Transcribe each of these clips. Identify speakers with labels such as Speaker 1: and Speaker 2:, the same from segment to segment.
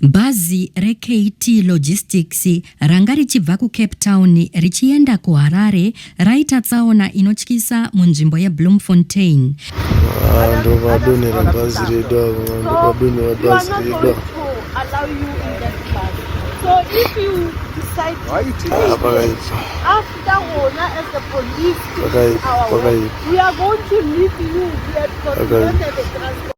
Speaker 1: Bhazi reKT Logistics ranga richibva kuCape Town richienda kuHarare raita tsaona inotyisa munzvimbo yeBloemfontein. Ndovadonhera bhazi redu avo, ndovadonhera bhazi
Speaker 2: redu avo. Pakaipa.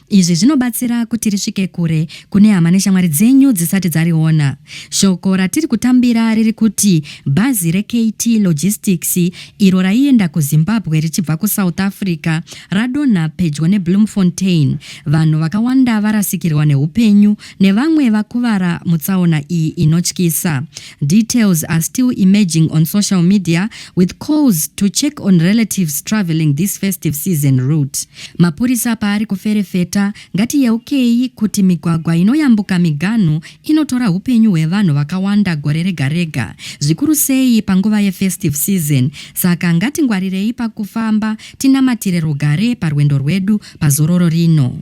Speaker 1: Izvi zvinobatsira kuti risvike kure kune hama neshamwari dzenyu dzisati dzariona. Shoko ratiri kutambira riri kuti bhazi reKT Logistics iro raienda kuZimbabwe richibva kuSouth Africa radonha pedyo neBloemfontein, vanhu vakawanda varasikirwa nehupenyu nevamwe vakuvara mutsaona iyi inotyisa. Details are still emerging on social media with calls to check on relatives travelling this festive season route. Mapurisa paari kuferefeta, ngatiyeukei kuti migwagwa inoyambuka miganhu inotora upenyu hwevanhu vakawanda gore rega rega, zvikuru sei panguva yefestive season, saka ngatingwarirei pakufamba tinamatire rugare parwendo rwedu pazororo rino.